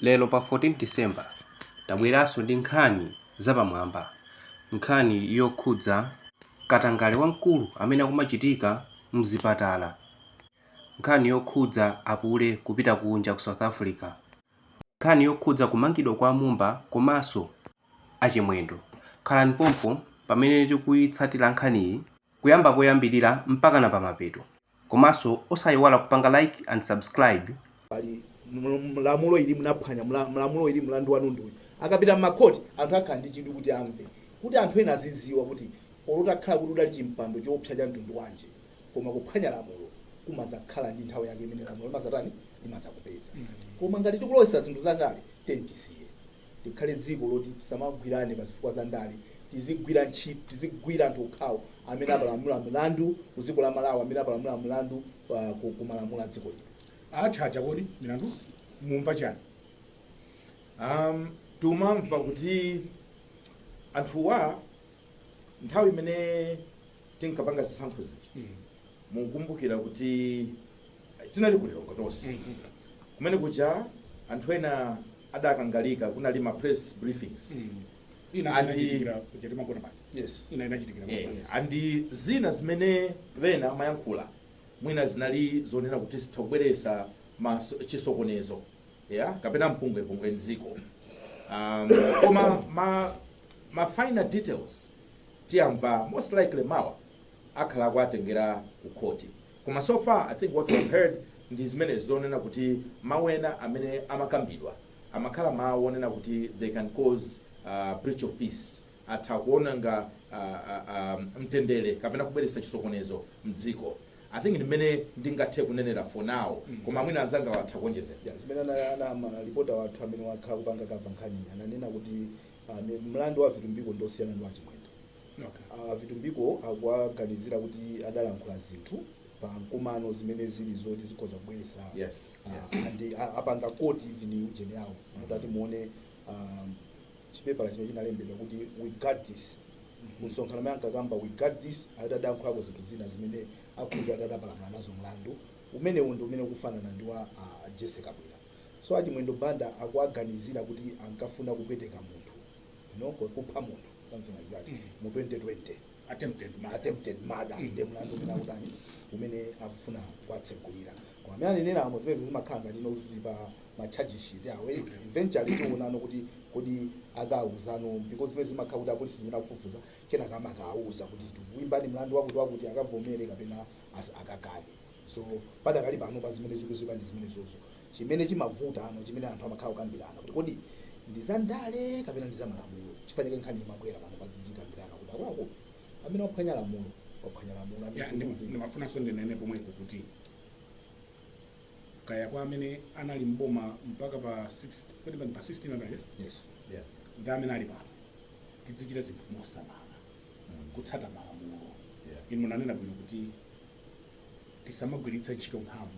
Lero pa 14 December tabweranso ndi nkhani zapamwamba, nkhani yokhudza katangale wamkulu amene akumachitika mzipatala, nkhani yokhudza apulezidenti kupita kunja ku South Africa, nkhani yokhudza kumangidwa kwa Mumba komanso a Chimwendo. Khalani pompo pamene tikuyitsatira nkhaniyi kuyamba poyambilira mpakana pamapeto komanso osayiwala kupanga like and subscribe. Pali lamulo ili munaphwanya lamulo ili mlandu wanu ndi uyu akapita m'makhoti anthu akhala ndi chidwi kuti amve kuti anthu ena aziziwa kuti olo utakhala kuti udali chimpando choopsa cha mtundu wanji koma kuphwanya lamulo kumazakhala ndi nthawi yake imene lamulo limazatani limazakupeza koma ngati tikulowesa zinthu zandale tiyeni tisiye Tikhale dziko loti tisamagwirane pa zifukwa za ndale, tizigwira ntchito, tizigwira anthu okhawo amene apalamula mlandu ku dziko la Malawi, amene apalamula mlandu pa ku ku malamulo a dziko lino. Achacha kodi milandu mumva chani? Ahm tumamva kuti anthuwa nthawi imene tinkapanga zisankho zija mukukumbukira kuti. Tinali ku Lilongwe tonse. Kumene kuja anthu ena adakangalika, kunali ma press briefings and yes yeah and zina zimene ena amayankhula mwina zinali zonena kuti zitha kubweresa chisokonezo yeah kapena mpungwepungwe mdziko um, koma ma, ma finer details tiyamva most likely mawa akhala akuwatengera ku khoti. Koma so far I think what we've heard ndi zimene zonena kuti mawu ena amene amakambidwa amakhala mawu onena kuti they can cause breach of peace, atha kuononga mtendere kapena kubweretsa chisokonezo mdziko. I think ndi mmene ndingathe kunenera for now koma mwina anzangawa atha kuonjezera. Ya, zimene ananena ma reporter wathu amene wakhala akupanga cover nkhaniyi ananena kuti mlandu wa Vitumbiko ndi osiyana ndi wa Chimwendo. Okay. A Vitumbiko akuwaganizira kuti adalankhula zinthu pa mkumano zimene zili zoti zikhoza kubweretsa Yes, ah, yes. and a- apanga quote even ujeni yawo kuti muone um, chipepala chimene chinalembedwa kuti we got this msonkhano amene ankakamba we got this adalankhulako zinthu zina zimene akuti adadapalamula nazo mlandu umenewu ndi umene ukufanana ndi wa ah, Jessie Kabwila so a Chimwendo Banda akuwaganizira kuti ankafuna kupweteka munthu you know, ku- kupha munthu something like that mu 2020 attempted murder. attempted murder nde mlandu umene akutani umene akufuna kuwatsekulira koma amene aneneramo zimene zimakhala ngati nozi pa ma charge sheet awo eventually tionano kuti kodi akaawuzano because zimene zimakhala kuti apolisi zimene akufufuza kenaka amakawauza kuti tikuimbani mlandu wakuti wakuti akavomere kapena as- akakane so padakali pano pa zimene zikudziwika ndi zimene zozo Chimene chimavutano chimene anthu amakhala kukambirana kuti kodi ndi za ndale kapena ndi za malamulo chifukwa chake nkhani imabwera pano poti tidzikambirana kuti akuluakulu amene waphwanya lamulo waphwanya lamulo and Ya, ndima- kuzuzika ndimafunanso ndinene pomwepo kuti kaya kwa amene anali mboma mpaka pa 16 kodi pa- pa 16 anali eh? yes Yeah. ndi amene ali pano tidzichita zinthu mosamala kutsata malamulo Yeah. inu munanena bwino kuti tisamagwiritse ntchito mphamvu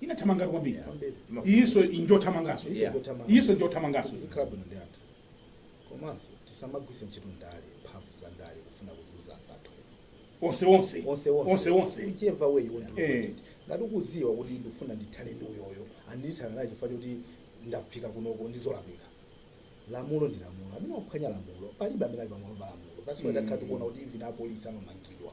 Inathamangatu kwambiri apa. Imafuna Iyinso bwino. njothamanganso. Iyinso Yeah. njothamanganso. Iyinso njothamanganso. Tizikhala bwino ndi anthu. Komanso tisamagwiritse ntchito ndale, mphamvu za ndale kufuna kuzunza anzathu ena. Onse onse. Onse onse. Onse onse. Whichever way you want to look Eh. at it. Ngati ukudziwa kuti ndikufuna ndithane ndi uyoyo, andithana naye chifukwa choti ndafika kunoko ndi zolakwika. Lamulo ndi lamulo. Amene waphwanya lamulo, palibe amene ali pamwamba pa lamulo. That's why Mm. takhala tikuona kuti even apolisi amamangidwa.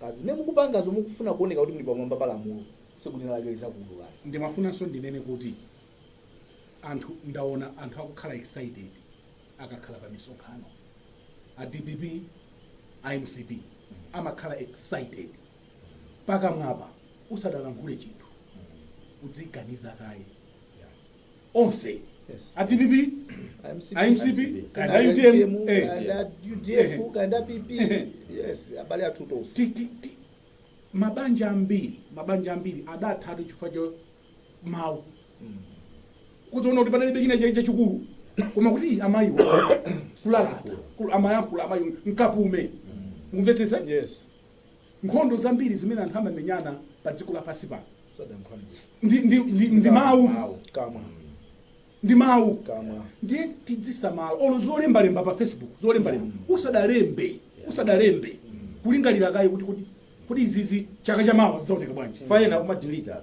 Pa zimene mukupangazo mukufuna kuoneka kuti muli pamwamba pa lamulo, tsiku lina lake lizakuululani. Ndimafunanso ndinene kuti anthu ndaona anthu akukhala excited akakhala pa misonkhano. A dpp, a mcp amakhala excited. Pakamwapa usadalankhule chinthu udziganiza kaye. onse a dpp a mcp kaya a utm eh, udf kanda pp yes abale athu tonse ti- ti- ti- mabanja ambiri mabanja ambiri adathatu chifukwa cha mawu kudziona kuti padalibe china cha- chachikulu koma kuti amayiwo kulalata kul- amayankhula amayi mukapume mukumvetsetsa yes Nkhondo zambiri zimene anthu amamenyana pa dziko lapansi pano ndi, ndi, ndi, ndi mawu kamwa ndi mawu kamwa ndiye tidzisamala olo zolembalemba pa facebook zolembalemba usadalembe usadalembe kulingalira kaye kuti kuti kuti izizi chaka cha mawa zidzaoneka bwanji fayena kumadilita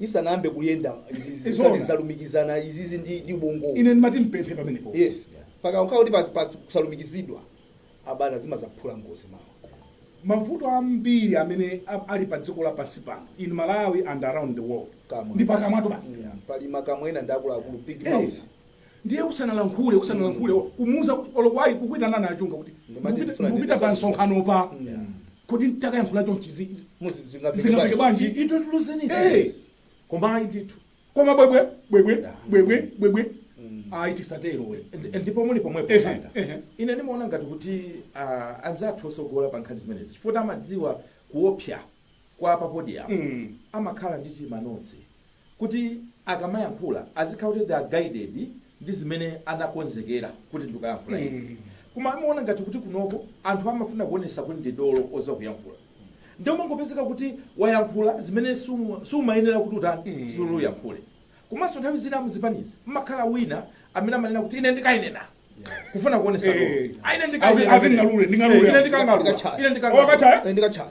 isanayambe kuyenda izi zikhala Zoona. zalumikizana izizi ndi ndi ubongowu ine ndimati ndipemphe pamenepo yes pakakhala kuti pas- pas- kusalumikizidwa abana zimazaphula ngozi mawa mavuto ambiri amene a- ali pa dziko lapansi pano in malawi and around the world Kamwa. ndi pakamwatu basi Mm, pali makamwa ena ndi akuluakulu big Eh, mouth Ndiye usanalankhule, usanalankhule, or kumuuza kuti, olo kuayi, kukuitanani a Chunga kuti Ndimati mukupita, ndifuna mukupita ndipeze pa chifukwa. msonkhanopa, Yeah. kodi nditakayankhula chonchi zi- zi- Muzi- zingafike zingafike bwanji? bwanji? You don't lose anything. Hey. Koma ayi ndithu. Koma bwebwe, bwebwe, Yeah. bwebwe, bwebwe, Mm. ayi tisatero we. Ndi- ndipo muli pomwepo Ehe, panga ehe. ine ndimaona ngati kuti ah, anzathu otsogola pa nkhani zimenezi chifukwa amadziwa kuopsa kwa pa podium amakhala ndi tima notes kuti akamayankhula azikhala kuti they are guided ndi zimene anakonzekera kuti ndikayankhula izi koma amaona ngati kuti kunoko anthu amafuna kuonesa kuti ndi dolo oziwa kuyankhula nde umangopezeka kuti wayankhula zimene suma- sumayenera kuti utani uyankhule komanso nthawi zina muzipanizi mmakhala wina amene amanena kuti ine ndikainena kufuna kuonesa dolo Eh. Ah, ine Ati- ndikainena ati ndingalule, ndingalule. Eh, ine ndikangalula Ndikachaya. ine ndikangalula Wakachaya? Eh, ndikachaya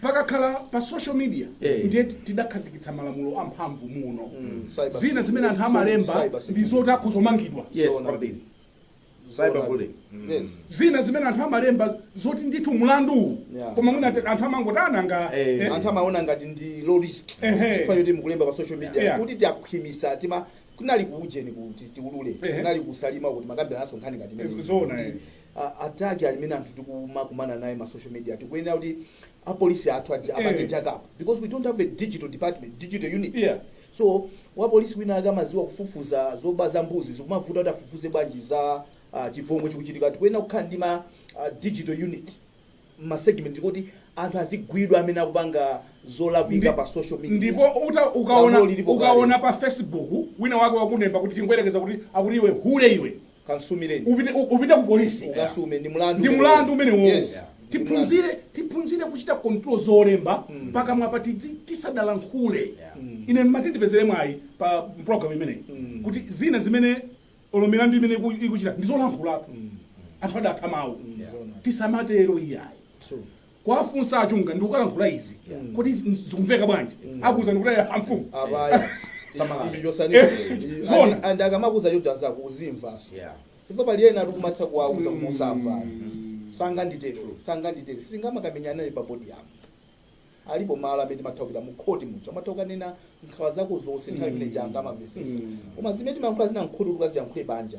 Pakakhala pa social media Eh. ndiye tidakhazikitsa malamulo amphamvu muno Cyber- zina zimene anthu amalemba Cyber- ndi zoti akhoza kumangidwa yes Zoona. kwambiri cyberbullying Yes. zina zimene anthu amalemba zoti ndithu mlanduwu Yeah. koma mwina ati- anthu amangoti ananga Eh. eh, anthu amaona ngati ndi low risk Ehe. chifukwa choti mukulemba pa social media Yeah. kuti tikhwimitse tima kunali kuujeni kuti tiulule Ehe. kunali ku Salima kuti timakambirananso nkhani ngati imene. Zoona, eh. a attack alimene anthu tikumakumana naye ma social media tikuyenera kuti apolisi athu aja Eh. apange jack up because we don't have a digital department digital unit Yeah. so wapolisi wina akamaziwa kufufuza zoba za mbuzi zikumavuta kuti afufuze bwanji za uh, chipongwe chikuchitika tikuyenera kukhala ndi ma uh, digital unit masegment kuti anthu azigwidwa amene akupanga zolakwika Ndi- pa social media ndipo uta- ukaona Lamulo lilipo kale. ukaona pa facebook wina wake wakulemba kuti tingoyerekeza kuti akuti iwe hule iwe Kansumireni. Upite upite ku police ukasume ndi mulandu. Ndi mulandu umenewo. Yes. Tiphunzire tiphunzire kuchita control zolemba mm. pakamwapa tidzi tisadalankhule. Yeah. Mm. Ine ndimati ndipezere mwayi pa program imeneyi mm. kuti zina zimene olo milandu imene ikuchita ndi zolankhula. Mm. Anthu adataya mawu. Mm. Yeah. Tisamatero iyayi. True. kuwafunsa a Chunga ndikukalankhula izi kuti zikumveka bwanji akuuzani kuti amfumu abaya Samalani. icho chosaniicho Zona. and akamakuza choti uzimvaso Yeah. chifukwa pali ena ali kumatha kuwauza kuti usamva sanganditero sanganditero sitingamakamenyana naye pa podium alipo malo amene timatha kupita mu khoti muja umatha kukanena nkhawa zako zonse nthawi imene judge amamvesesa koma zimene timayankhula zina mkhoti tukaziyankhule panja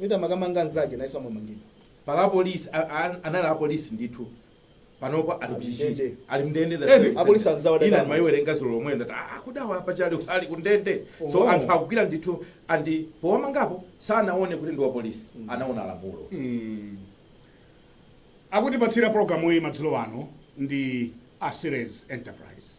Wina amakamanga mzake nayenso amamangidwa. Pali a police anali a police ndithu panopa ali ku Chichiri ali mndende the same sentences ina ndimaiwerenga zulo lomweli ndati aa kodi awa mpaka pano ali kundende so anthu akugwira ndithu and powamangapo sanaone kuti ndiwa police anaona lamulo Akutipatsira pulogalamuyi madzulo ano ndi a Ceres Enterprise.